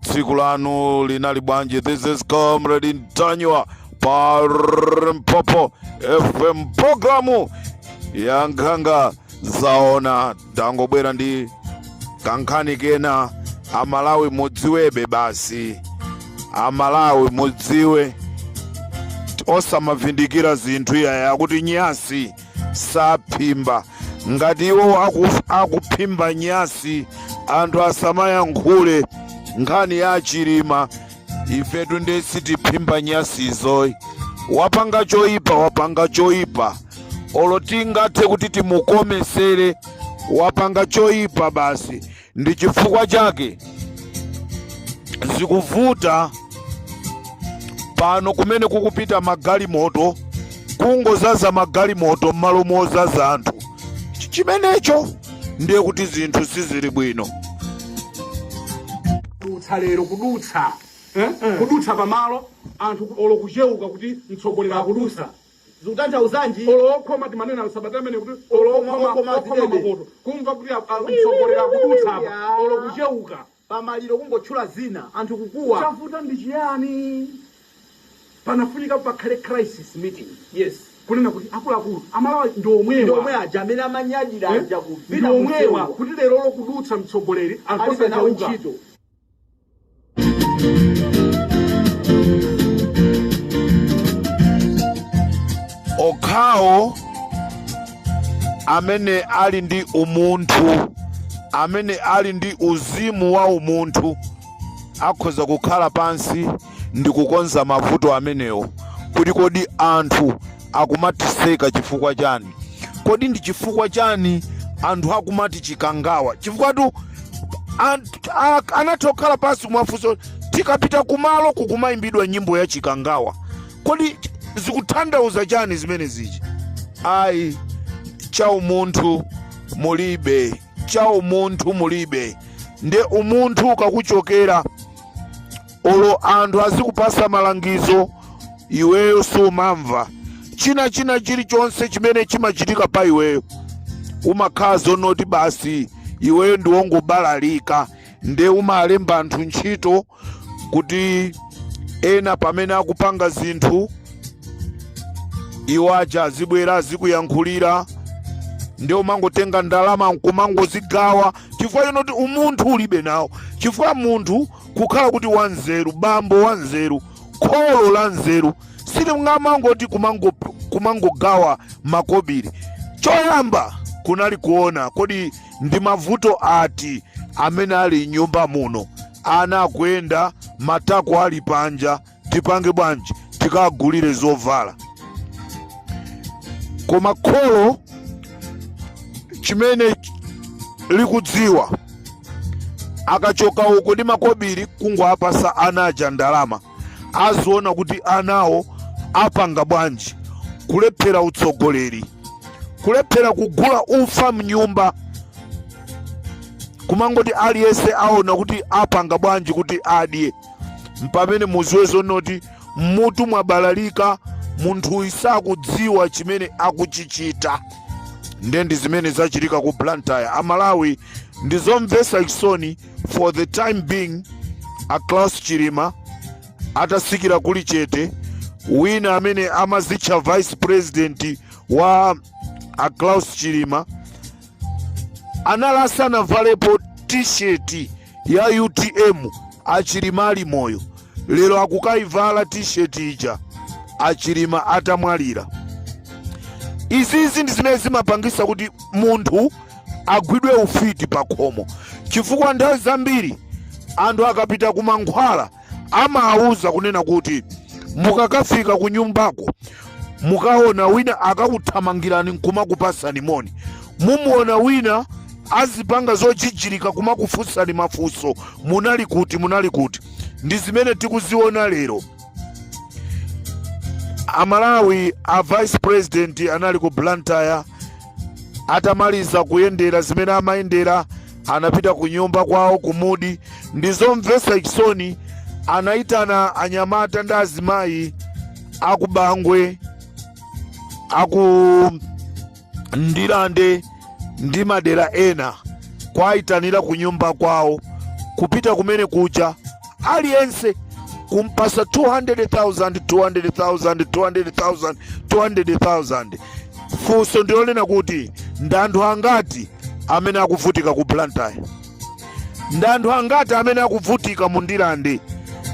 tsiku lanu linali bwanji this is comrade ntanyiwa pa limpopo fm programu ya nkhanga zaona tangobwera ndi kankhani kena amalawi mudziwebe basi amalawi mudziwe osamavindikira zinthu iyaya kuti nyasi saphimba ngati iwo aku, akuphimba nyasi anthu asamayankhule nkhani ya chilima ifetu nde sitiphimba nyasizoyi wapanga choyipa wapanga choyipa olo tingathe kuti timukomesere wapanga choyipa basi ndi chifukwa chake zikuvuta pano kumene kukupita magalimoto kungozaza magalimoto m'malo mozaza anthu Ch- chimenecho ndiye kuti zinthu sizili bwino kudutsa lero kudutsa eh? kudutsa pamalo anthu olo kucheuka kuti mtsogoleri akudutsa zikutanthauzanji? Olo okhoma timanena msabata imeneyi kuti olo Okhoma, okhoma, okhoma okhoma zidebe. mapoto. Kumva kuti a- a- Wiu, mtsogoleri wiu, wiu, akudutsa wiu, apa. ya. Olo kucheuka. Pa maliro kungotchula zina, anthu kukuwa. Chavuta ndi chiyani? Panafunika pakhale crisis meeting. Yes. Kunena kuti akuluakulu, Amalawi ndi Ndi omwewa. omwe aja amene amanyadira Eh? aja Ndi kuvina omwewa. kuchewa. Kuti lerolo kudutsa mtsogoleri, anthu Alibe nawo osacheuka. ntchito. okhawo amene ali ndi umunthu amene ali ndi uzimu wa umunthu akhoza kukhala pansi ndi kukonza mavuto amenewo kuti kodi anthu akumatiseka chifukwa chani kodi ndi chifukwa chani anthu akumati chikangawa chifukwatu ant- a- anatha kukhala pansi kumafunsa tikapita kumalo kukumayimbidwa nyimbo ya chikangawa kodi zikuthandauza chani zimene zija ayi cha umunthu mulibe cha umunthu mulibe nde umunthu ukakuchokera olo anthu azikupasa malangizo iweyo sumamva china china chilichonse chimene chimachitika pa iweyo umakhala zonoti basi iweyo ndiwongobalalika nde umalemba anthu ntchito kuti ena pamene akupanga zinthu iwo aja azibwera azikuyankhulira nde umangotenga ndalama nkumangozigawa chifukwa chonoti umunthu ulibe nawo chifukwa munthu kukhala kuti wanzeru bambo wanzeru kholo la nzeru silingamangoti kumango- kumangogawa makobiri choyamba kunali kuona kodi ndi mavuto ati amene ali mnyumba muno ana akuyenda matako ali panja tipange bwanji tikagulire zovala koma kholo chimene likudziwa akachoka uko ndi makobiri kungowapasa ana aja ndalama aziona kuti anawo apanga bwanji kulephera utsogoleri kulephera kugula ufa mnyumba kumangoti aliyense aona kuti apanga bwanji kuti adye mpamene muziwe zoti mmutu mwabalalika munthuyi sakudziwa chimene akuchichita nde ndi zimene zachitika ku blantyre amalawi ndizomvesa chisoni for the time being a Klaus chilima atasikira kulichete wina amene amazitcha vice president wa a Klaus chilima anali asanavalepo t-shirt ya utm achilima ali moyo lero akukayivala t-shirt ija achilima atamwalira izizi ndi zimene zimapangisa kuti munthu agwidwe ufiti pa khomo chifukwa nthawi zambiri anthu akapita ku mankhwala amawauza kunena kuti mukakafika ku nyumbako mukaona wina akakuthamangirani nkumakupasani moni mumuona wina azipanga zojijirika kumakufunsani mafunso munali kuti munali kuti ndi zimene tikuziona lero amalawi a vice president anali ku blantyre atamaliza kuyendera zimene amayendera anapita ku nyumba kwawo ku mudi ndi zomvetsa chisoni anayitana anyamata ndi azimayi aku bangwe aku ndilande ndi madera ena kuwayitanira ku nyumba kwawo kupita kumene kuja aliyense kumpasa 200,000 200,000 200,000 200,000 funso ndilonena kuti ndi anthu angati amene akuvutika ku blantyre ndi anthu angati amene akuvutika mu ndilande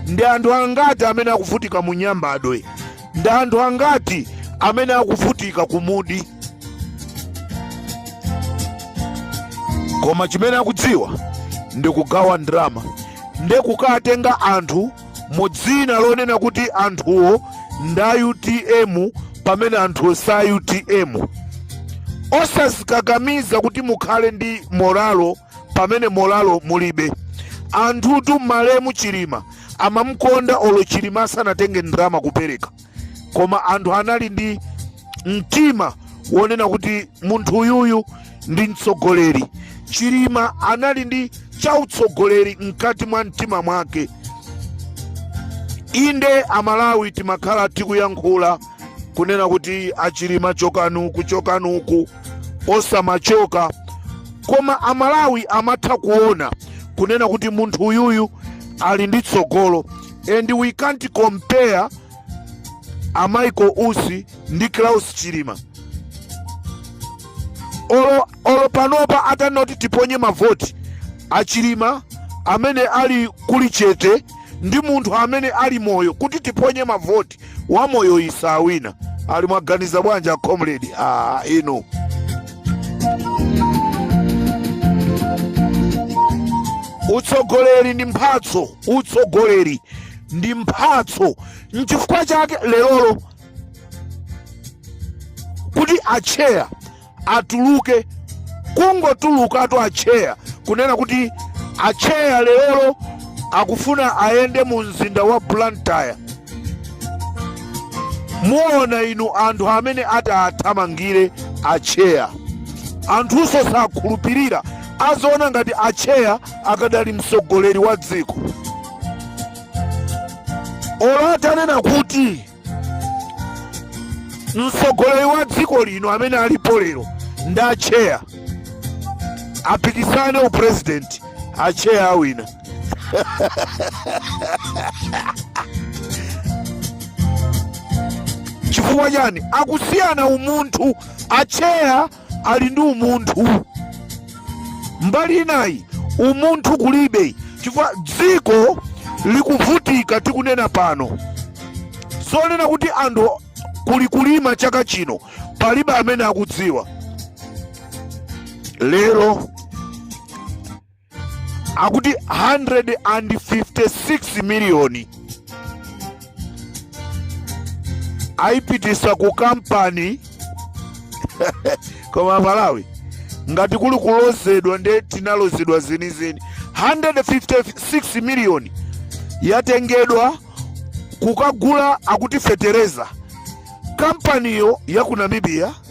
ndi anthu angati amene akuvutika mu nyambadwe ndi anthu angati amene akuvutika ku mudi koma chimene akudziwa ndi kugawa ndalama ndi kukatenga anthu mu dzina lonena kuti anthuwo ndi a utm pamene anthuwo si a utm osazikakamiza kuti mukhale ndi moralo pamene moralo mulibe anthutu malemu chilima amamukonda olo chilima asanatenge ndalama kupereka koma anthu anali ndi mtima wonena kuti munthu uyuyu ndi mtsogoleri chilima anali ndi chautsogoleri mkati mwa mtima mwake inde amalawi timakhala tikuyankhula kunena kuti achilima chokani uku chokani uku osamachoka koma amalawi amatha kuona kunena kuti munthu uyuyu ali ndi tsogolo and we can't compare a Michael Usi ndi Klaus chilima olo panopa atanena kuti tiponye mavoti achilima amene ali kuli chete ndi munthu amene ali moyo kuti tiponye mavoti wamoyoyu sawina ali mwaganiza bwanji a comrade ah, inu utsogoleri ndi mphatso utsogoleri ndi mphatso nchifukwa chake lerolo kuti atcheya atuluke kungotulukatu atcheya kunena kuti atcheya lerolo akufuna ayende mu mzinda wa blantyre muona inu anthu amene ati athamangire atcheya anthunso sakhulupirira azaona ngati atcheya akadali mtsogoleri wa dziko olo atanena kuti mtsogoleri wa dziko lino amene alipo lero ndi atcheya apikisane upresident atcheya awina chifukwa chani akusiyana umunthu atcheya ali ndi umunthu mbali inayi umunthu kulibe chifukwa dziko likuvutika tikunena pano zonena kuti anthu kuli- kulima chaka chino palibe amene akudziwa lero akuti 156 miliyoni ayipitisa ku kampani koma malawi ngati kuli kulozedwa nde tinalozedwa zenizeni 156 miliyoni yatengedwa kukagula akuti fetereza kampaniyo ya ku namibia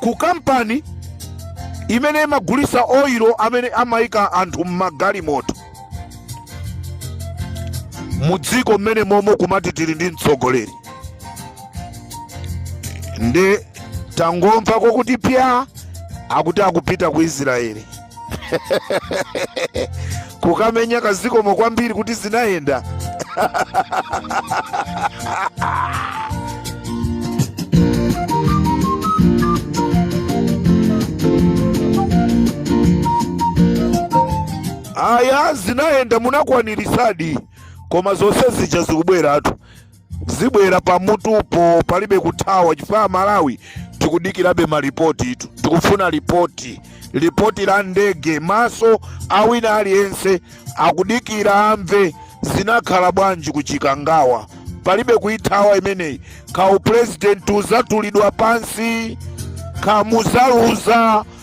ku kampani imene imagulisa oilo amene amayika anthu m'magalimoto mu dziko mmene momo kumati tili ndi mtsogoleri nde tangomva kokuti pya akuti akupita ku israeli kukamenya kazikomo kwambiri kuti zinayenda aya zinayenda munakwanirisadi koma zonse zija zikubweratu zibwera pamutupo palibe kuthawa chifukwa amalawi tikudikirabe malipotitu tikufuna lipoti lipoti la ndege maso awina aliyense akudikira amve zinakhala bwanji ku chikangawa palibe kuithawa imeneyi kaya upulezidenti uzatulidwa pansi kaya muzaluza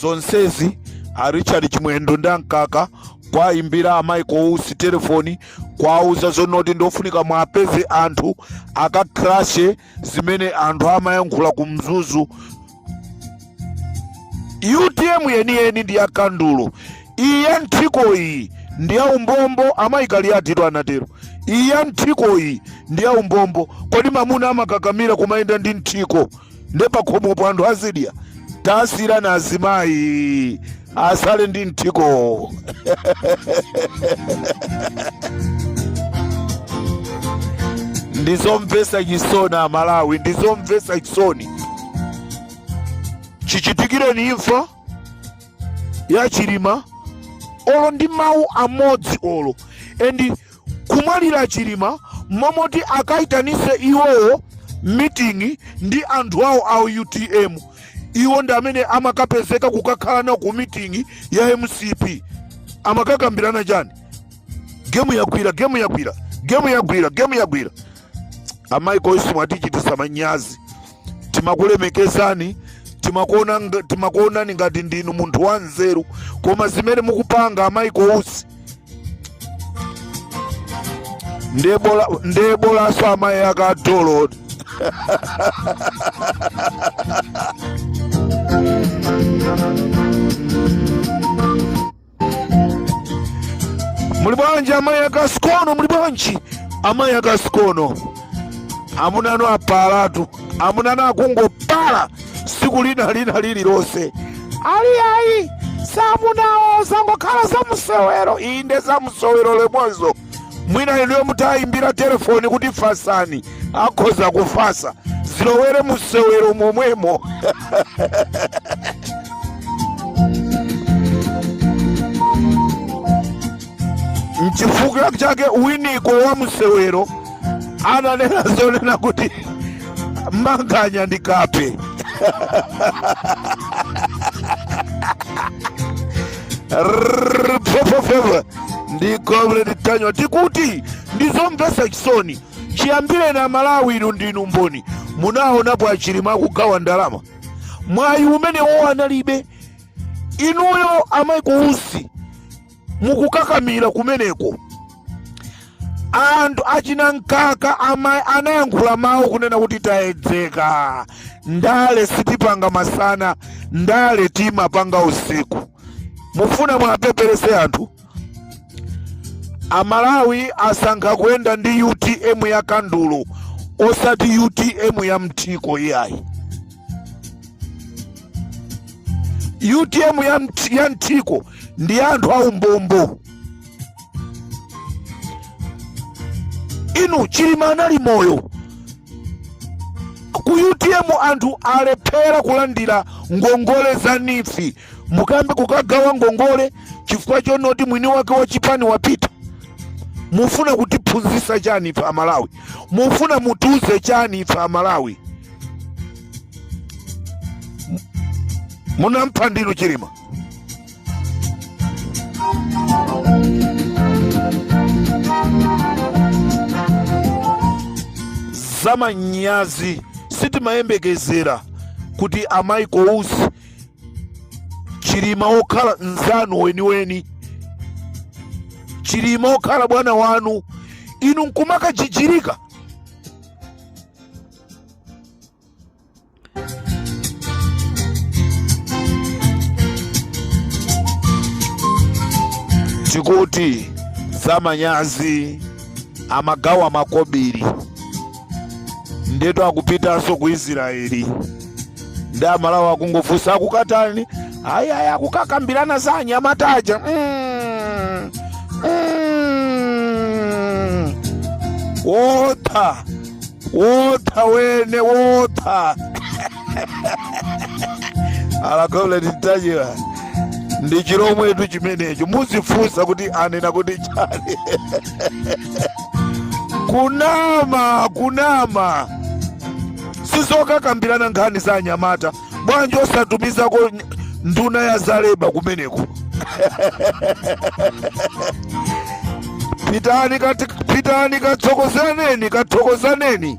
zonsezi a richard chimwendo ndi amkaka kwayimbira a michael usi telefoni kwauza zonoti ndofunika mwapeze anthu akakrashe zimene anthu amayankhula ku mzuzu utm yeniyeni ndi ya kandulo iyi ya nthiko iyi ndi ya umbombo amayi kaliatitu anatero iyi ya nthiko iyi ndi ya umbombo kodi mamuna amakakamira kumayenda ndi nthiko nde pakhomopo anthu azidya tasiyirani azimayi asale ndi mthiko ndizomvesa chisoni amalawi ndizomvesa chisoni chichitikireni imfa ya chilima olo ndi mawu amodzi olo and kumwalira chilima momoti akaitanise iwowo meeting ndi anthu awo a utm iwo ndi amene amakapezeka kukakhala nawo ku meeting ya mcp amakakambirana chani gemu yagwira gemu yagwira gemu yagwira gemu yagwira a michael usi mwatichitisa manyazi timakulemekezani timakuonani ngati ndinu munthu wa nzeru koma zimene mukupanga a michael usi ndiye bolanso amayi akadolo muli bwanji amayi ake a sikono muli bwanji amayi ake a sikono amuna anu apalatu amuna anu akungopala siku lina lina lililonse ali ayi samunawo zangokhala zamusewero inde zamusewero lemwezo mwina inuyo mutayimbira telefoni kuti fasani akhoza kufasa zilowere musewero momwemo nchifukwa chake winiko wa sewero ananena zonena kuti manganya ndi kape Rrrr, pfo, pfo, pfo, pfo. ndi comrade daniel tikuti ndizomvesa chisoni chiyambireni amalawi inu ndinu mboni munaonapo a Chilima akugawa ndalama mwayi umenewo analibe inuyo a Michael Usi mukukakamira kumeneko anthu achina Mkaka anayankhula mawu kunena kuti tayedzeka ndale sitipanga masana ndale timapanga usiku mufuna muwapepelesere anthu amalawi asankha kuyenda ndi utm ya kandulo osati utm ya mthiko iyayi utm ya, mt- ya mthiko ndi ya anthu aumbombo inu chilima anali moyo ku utm anthu alephera kulandira ngongole za NEEF mukambe kukagawa ngongole chifukwa chonoti mwini wake wa chipani wapita mufuna kutiphunzitsa chani ife amalawi mufuna mutiuze chani ife amalawi munampha ndinu chilima zamanyazi sitimayembekezera kuti a Michael Usi chilima wokhala mzanu weniweni chilima wokhala bwana wanu inu nkumakajijirika tikuti zamanyazi amagawa makobiri ndetu akupitanso ku israeli ndi amalawi akungofunsa akukatani ayi ayi akukakambirana za anyamata aja mm. mm. wota wota wene wota alakole titachiwa ndi chilomwetu chimenecho muzifunsa kuti anena kuti chani kunama kunama sizokakambirana nkhani za anyamata bwanji osatumizako nduna ya zaleba kumeneko pitani kati- pitani kathokozaneni kathokozaneni